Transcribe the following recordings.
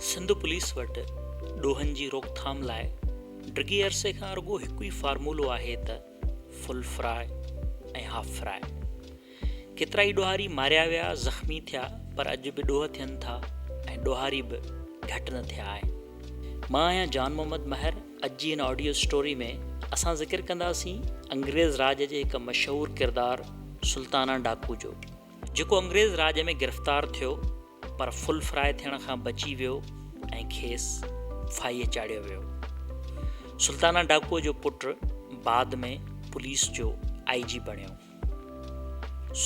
Sindh police وٽ ڏوهن جي روڪٿام لاء ڊگهي عرصي کان رڳو هڪ ئي فارمولو آهي ته فل فراء ۽ هاف فراء. ڪيترائي ڏوهاري ماريا ويا، زخمي ٿيا پر اڄ به ڏوهه ٿين ٿا ۽ ڏوهاري به گهٽ نه ٿيا آهن. مان آهيان جان محمد مهر، اڄ جي هن آڊيو اسٽوري ۾ اسان ذڪر ڪنداسين انگريز راڄ جي هڪ مشهور ڪردار سلطانا ڊاڪو جو جيڪو انگريز راڄ ۾ گرفتار ٿيو، پر فل فرائي ٿيڻ کان بچي ويو ۽ کيس ڦاهيء چاڙهيو ويو. سلطانه ڊاڪوء جو پٽ بعد ۾ پوليس جو آئي جي بڻيو.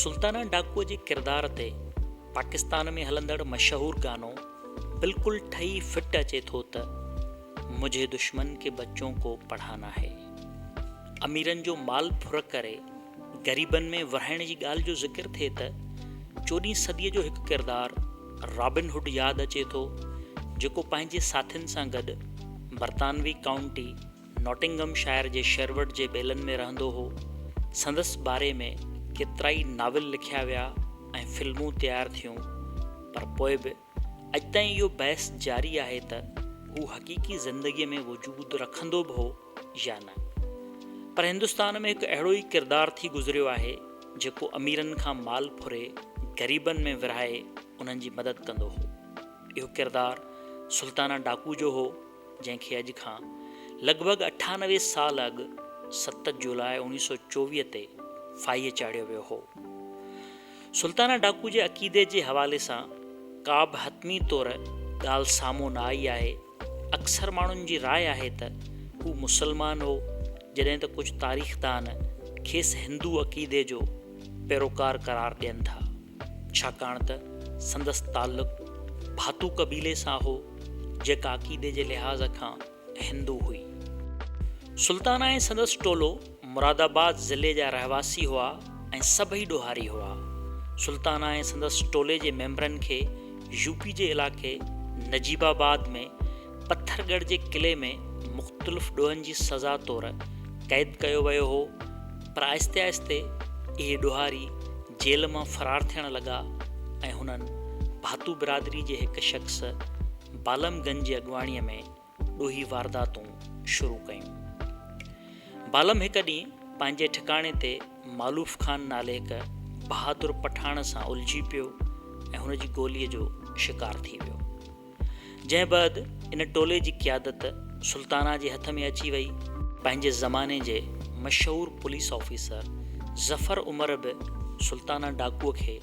سلطانه ڊاڪوء جي ڪردار تي پاڪستان ۾ هلندڙ مشهور گانو بلڪل ٺهي فٽ اچي ٿو ته، مجهي دشمن ڪي بچون ڪو پڙهانا هي. اميرن جو مال ڦر ڪري، غريبن ۾ ورهائڻ جي ڳالهه جو ذڪر ٿئي ته چوڏهين صديء جو هڪ ڪردار رابن هوڊ ياد اچي ٿو، جيڪو پنهنجي ساٿين سان گڏ برطانوي ڪائونٽي ناٽنگهم شائر جي شيروڊ جي ٻيلن ۾ رهندو هو. سندس باري ۾ ڪيترائي ناول لکيا ويا ۽ فلمون تيار ٿيون، پر پوء به. اڄ تائين اهو بحث جاري آهي ته هو حقيقي زندگيء ۾ وجود رکندو به هو يا نه. پر هندستان ۾ هڪ اهڙو ئي ڪردار ٿي گذريو آهي، جيڪو اميرن کان مال ڦري، غريبن ۾ ورهائي انهن جي مدد ڪندو هو. اهو ڪردار سلطانه ڊاڪو جو هو، جنهن کي اڄ کان لڳ ڀڳ اٺانوي سال اڳ ست جولاء اوڻيهه سؤ چوويهه تي ڦاهيء چاڙهيو ويو هو. سلطانه ڊاڪو جي عقيدي جي حوالي سان ڪابه حتمي طور ڳالهه سامهون نه آئي آهي. اڪثر ماڻهن جي راء آهي ته هو مسلمان هو، جڏهن ته ڪجهه تاريخدان کيس هندو عقيدي جو پيروڪار قرار ڏين ٿا، ڇاڪاڻ ته سندس تعلق ڀاتو قبيلي سان هو، جيڪا عقيدي جي لحاظ کان هندو هئي. سلطانه ۽ سندس ٽولو مراد آباد ضلعي جا رهواسي هئا ۽ سڀئي ڏوهاري هئا. سلطانه ۽ سندس ٽولي جي ميمبرن کي يو پي جي علائقي نجيب آباد ۾ پٿر ڳڙهه جي قلعي ۾ مختلف ڏوهن جي سزا طور قيد ڪيو ويو هو پر آهستي آهستي اهي ڏوهاري جيل مان فرار ٿيڻ لڳا ۽ هنن ڀاتو برادري جي هڪ شخص بالم گن جي اڳواڻي ۾ ڏوهي وارداتون شروع ڪيون. بالم هڪ ڏينهن پنهنجي ٺڪاڻي تي مالوف خان نالي هڪ بهادر پٺاڻ سان الجهي پيو ۽ هن جي گوليء جو شڪار ٿي ويو. جنهن بعد ان ٽولي جي قيادت سلطانه جي هٿ ۾ اچي وئي. پنهنجي زماني جي مشهور پوليس آفيسر ظفر عمر به سلطانه ڊاڪوء کي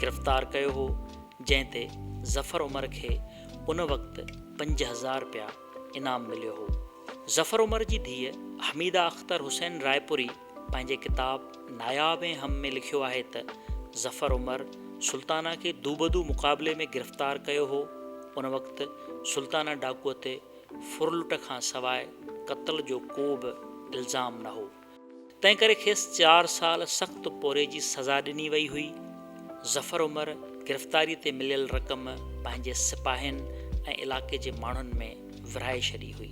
گرفتار ڪيو هو جنهن تي ظفر عمر کي ان وقت پنج هزار رپيا انعام مليو هو. ظفر عمر جي ڌيء حميده اختر حسين رائپوري پنهنجي ڪتاب ناياب ۽ هم ۾ لکيو آهي ته ظفر عمر سلطانه کي دوبدو مقابلي ۾ گرفتار ڪيو هو. ان وقت سلطانه ڊاڪوء تي ڦرلٽ کان سواء قتل جو ڪو به الزام نه هو. تنهن ڪري کيس چار سال سخت پورهيي جي سزا ڏني وئي هئي. ظفر عمر گرفتاري تي مليل رقم پنهنجي سپاهين ۽ علاقي جي ماڻهن ۾ ورهائي ڇڏي هئي.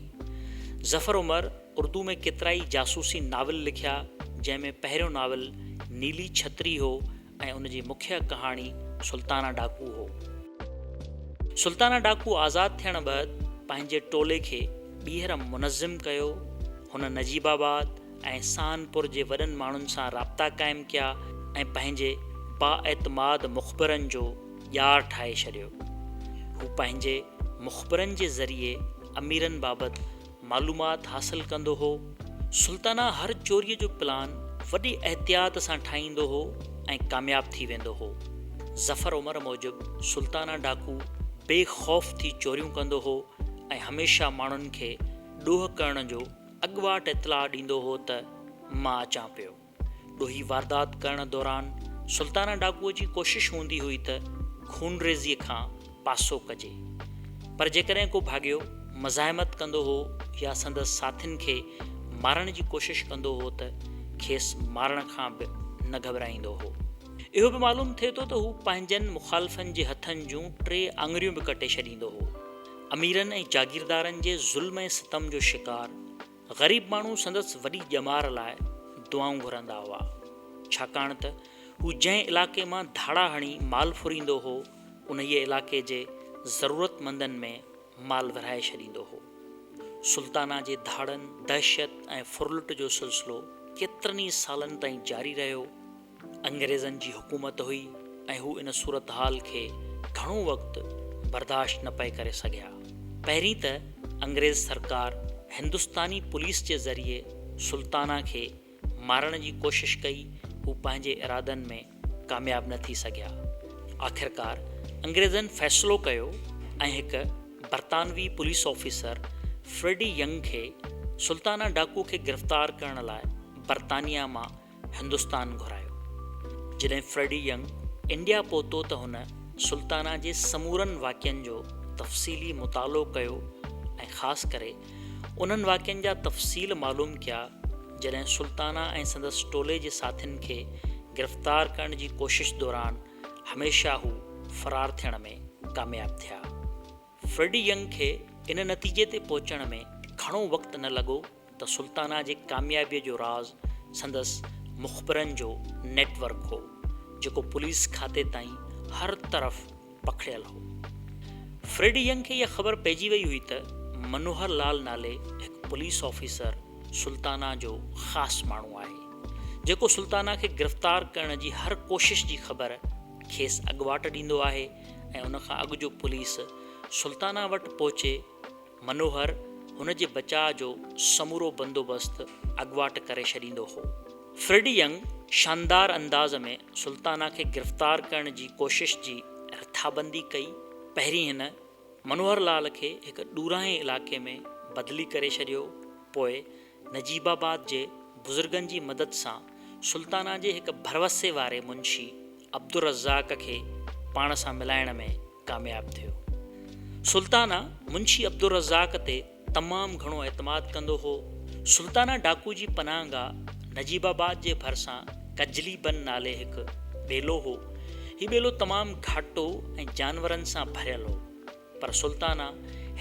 ظفر عمر اردو ۾ ڪيترائي جاسوسي ناول لکيا، جنهن ۾ پهريون ناول نيلي ڇتري هو ۽ ان جي مکيه ڪهاڻي سلطانه ڊاڪو هو. سلطانه ڊاڪو آزاد ٿيڻ بعد پنهنجي ٽولي کي ٻيهر منظم ڪيو. هن نجيب آباد ۽ سهنپور جي وڏن ماڻهن سان رابطا قائم ڪيا ۽ پنهنجي بااعتماد مخبرن جو ڄار ٺاهي ڇڏيو. هو پنهنجي مخبرن جي ذريعي اميرن بابت معلومات حاصل ڪندو هو. سلطانه هر چوريء جو پلان وڏي احتياط سان ٺاهيندو هو ۽ ڪامياب ٿي ويندو هو. ظفر عمر موجب سلطانه ڊاڪو بي خوف ٿي چوريون ڪندو هو ۽ هميشه ماڻهن کي ڏوهه ڪرڻ جو اڳواٽ اطلاع ڏيندو هو ته مان اچان پيو. ڏوهي واردات ڪرڻ دوران سلطانه ڊاڪوء جي ڪوشش هوندي هئي ته خونريزيء کان پاسو ڪجي، پر جيڪڏهن ڪو ڀاڳيو مزاحمت ڪندو هو يا سندس ساٿين کي مارڻ جي ڪوشش ڪندو هو ته کيس مارڻ کان به نه گهٻرائيندو هو. اهو به معلوم ٿئي ٿو ته هو پنهنجن مخالفن جي هٿن جون ٽي آڱريون به ڪٽي ڇڏيندو هو. اميرن ۽ جاگيردارن جي ظلم ۽ ستم جو شڪار، غريب ماڻهو سندس وڏي ڄمار لاء دعائون گهرندا هئا، ڇاڪاڻ ته هو جنهن علائقي مان ڌاڙا هڻي مال ڦريندو هو، انهيء علائقي جي ضرورتمندن ۾ مال ورهائي ڇڏيندو هو. سلطانه جي ڌاڙن، دهشت ۽ ڦرلٽ جو سلسلو ڪيترن ئي سالن تائين جاري رهيو. انگريزن جي حڪومت هئي ۽ هو ان صورتحال کي گهڻو وقت برداشت نه پئي ڪري سگهيا. پهرين ته انگريز سرڪار هندستاني پوليس جي ذريعي سلطانه کي مارڻ جي ڪوشش ڪئي، هو پنهنجي ارادن ۾ ڪامياب نه ٿي سگهيا. آخرڪار انگريزن فيصلو ڪيو ۽ هڪ برطانوي پوليس آفيسر فريڊي ينگ کي سلطانه ڊاڪو کي گرفتار ڪرڻ لاء برطانيا مان هندستان گهرايو. جڏهن فريڊي ينگ انڊيا پهتو ته هن سلطانه جي سمورن واقعن جو تفصيلي مطالعو ڪيو ۽ خاص ڪري انهن واقعن جا تفصيل معلوم ڪيا جڏهن سلطانه ۽ سندس ٽولي جي ساٿين کي گرفتار ڪرڻ جي ڪوشش دوران هميشه هو فرار ٿيڻ ۾ ڪامياب ٿيا. فريڊي ينگ کي ان نتيجي تي پهچڻ ۾ گهڻو وقت نه لڳو ته سلطانه جي ڪاميابيء جو راز سندس مخبرن جو نيٽ ورڪ هو، جيڪو پوليس کاتي تائين هر طرف پکڙيل هو. فريڊي ينگ کي اها خبر پئجي وئي هئي ته منوهر لال نالي هڪ پوليس آفيسر سلطانه جو خاص ماڻهو آهي، جيڪو سلطانه کي گرفتار ڪرڻ جي هر ڪوشش جي خبر کيس اڳواٽ ڏيندو آهي ۽ ان کان اڳ جو پوليس سلطانه وٽ پهچي، منوهر هن جي بچاء جو سمورو بندوبست اڳواٽ ڪري ڇڏيندو هو. فرڊ ينگ شاندار انداز ۾ سلطانه کي گرفتار ڪرڻ جي ڪوشش جي رٿابندي ڪئي. پهرين هن منوهر لال کي هڪ ڏورانهين علائقي ۾ بدلي ڪري ڇڏيو، پوء نجيب آباد جي بزرگن جي مدد سان سلطانه جي هڪ ڀروسي واري منشي عبدالرزاق کي پاڻ سان ملائڻ ۾ ڪامياب ٿيو. سلطانه منشي عبدالرزاق تي تمام گهڻو اعتماد ڪندو هو. سلطانه ڊاڪو جي پناهه گاهه نجيب آباد جي ڀرسان ڪجلي بن نالي هڪ ٻيلو هو. هي ٻيلو تمام گهاٽو ۽ جانورن سان ڀريل هو. پر سلطانا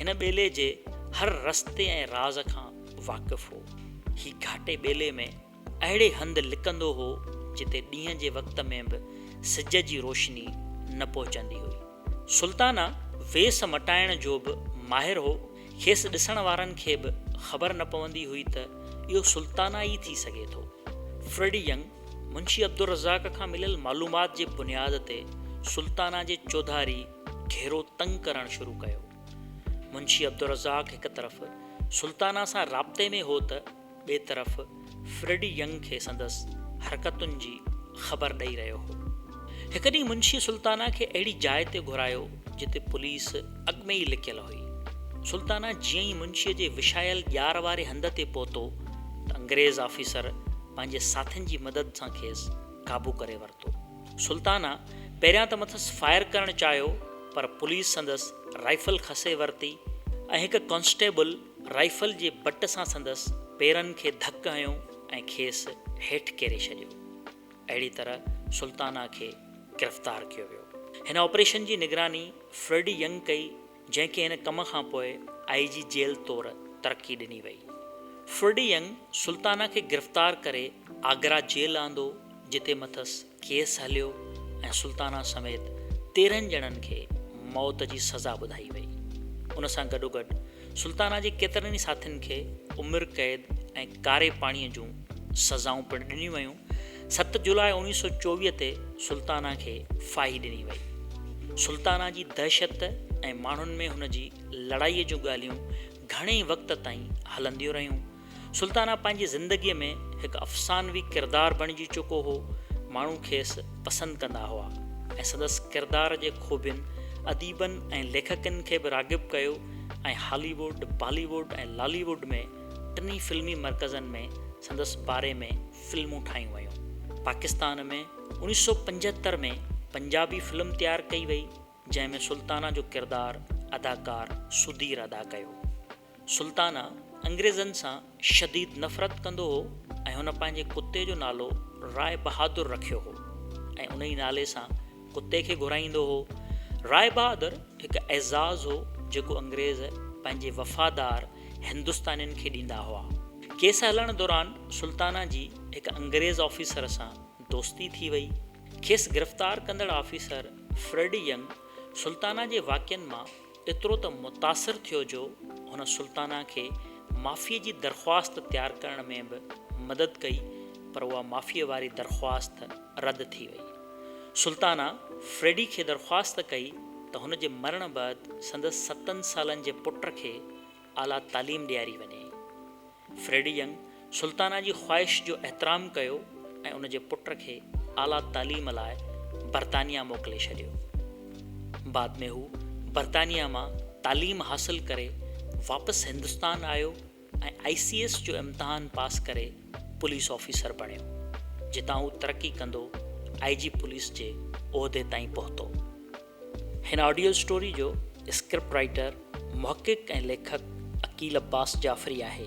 هن ٻيلي جي هر رستي ۽ راز کان واقف هو. هي گهاٽي ٻيلي ۾ اهڙي هنڌ لڪندو هو جتي ڏينهن جي وقت ۾ به سج جي روشني نه پهچندي هئي. سلطانا ويس مٽائڻ جو به ماهر هو. کيس ڏسڻ وارن کي به خبر نه پوندي هئي ته اهو سلطانا ئي ٿي سگهي ٿو. فريڊي ينگ منشي عبدالرزاق کان مليل معلومات جي بنياد تي سلطانا جي چوڌاري گهيرو تنگ ڪرڻ شروع ڪيو. منشي عبدالرزاق هڪ طرف سلطانه سان رابطي ۾ هو ته ٻئي طرف فريڊي ينگ کي سندس حرڪتن جي خبر ڏئي رهيو هو. هڪ ڏينهن منشي سلطانه کي اهڙي جاء تي گهرايو جتي پوليس اڳ ۾ ئي لڪيل هئي. سلطانه جيئن ئي منشي جي وشايل ڄار واري هنڌ تي پهتو ته انگريز آفيسر پنهنجي ساٿين جي مدد سان کيس قابو ڪري ورتو. سلطانا پهريان ته مٿس فائر ڪرڻ چاهيو پر پوليس سندس رائفل کسي ورتي ۽ هڪ ڪانسٽيبل رائفل جي بٽ سان سندس پيرن کي ڌڪ هنيو ۽ کيس هيٺ ڪيري ڇڏيو. اهڙي طرح سلطانا کي گرفتار ڪيو ويو. هن آپريشن جي نگراني فريڊي ينگ ڪئي. جنهن کي هن ڪم کان پوء آء جي جيل طور ترقي ڏني وئي. فرڊي ينگ سلطانه کي گرفتار ڪري آگرا جيل آندو جتي مٿس ڪيس هليو ۽ سلطانه سميت تيرهن ڄڻن کي موت جي سزا ٻڌائي وئي. ان سان گڏوگڏ سلطانه جي ڪيترن ئي ساٿين کي عمر قيد ۽ ڪاري پاڻي جون سزائون پڻ ڏنيون ويون. ست جولاء اوڻيهه سؤ چوويهه تي سلطانه کي ڦاهي ڏني وئي. سلطانه جي دهشت ۽ ماڻهن ۾ هن جي لڙائيء جون ڳالهيون گهڻي وقت تائين هلنديون رهيون. سلطانه پنهنجي زندگيء ۾ هڪ افسانوي ڪردار بڻجي چڪو هو. ماڻهو کيس پسند ڪندا هئا ۽ سندس ڪردار جي خوبين اديبن ۽ ليکڪن کي به راغب ڪيو ۽ هالي ووڊ، بالي ووڊ ۽ لالي ووڊ ۾ ٽنهي فلمي مرڪزن ۾ سندس باري ۾ فلمون ٺاهيون ويون. پاڪستان ۾ اوڻيھ سؤ پنجهتر ۾ پنجابي فلم تيار ڪئي وئي جنهن ۾ سلطانه جو ڪردار اداڪار سڌير ادا ڪيو. سلطانه انگريزن سان شديد نفرت ڪندو هو ۽ هن پنهنجي ڪتي جو نالو راء بهادر رکيو هو ۽ انهي نالي سان ڪتي کي گهرائيندو هو. راء بهادر هڪ اعزاز هو جيڪو انگريز پنهنجي وفادار هندستانين کي ڏيندا هئا. ڪيس هلڻ دوران سلطانه جي هڪ انگريز آفيسر سان دوستي ٿي وئي. کيس گرفتار ڪندڙ آفيسر فريڊ ينگ سلطانه جي واقعن مان ايترو ته متاثر ٿيو جو هن سلطانه کي معافيء جي درخواست تيار ڪرڻ ۾ به مدد ڪئي پر اها معافيء واري درخواست رد ٿي وئي. سلطانه فريڊي کي درخواست ڪئي ته هن جي مرڻ بعد سندس ستن سالن جي پٽ کي اعليٰ تعليم ڏياري وڃي. فريڊي ينگ سلطانه جي خواهش جو احترام ڪيو ۽ ان جي پٽ کي اعليٰ تعليم لاء برطانيا موڪلي ڇڏيو. بعد ۾ هو برطانيا مان تعليم حاصل ڪري واپس هندستان آيو ۽ آء سي ايس جو امتحان پاس ڪري پوليس آفيسر بڻيو، جتان هو ترقي ڪندو آء جي پوليس جي عهدي تائين پهتو. هن آڊيو اسٽوري جو اسڪرپٽ رائيٽر، محقق ۽ ليکڪ عقيل عباس جعفري آهي.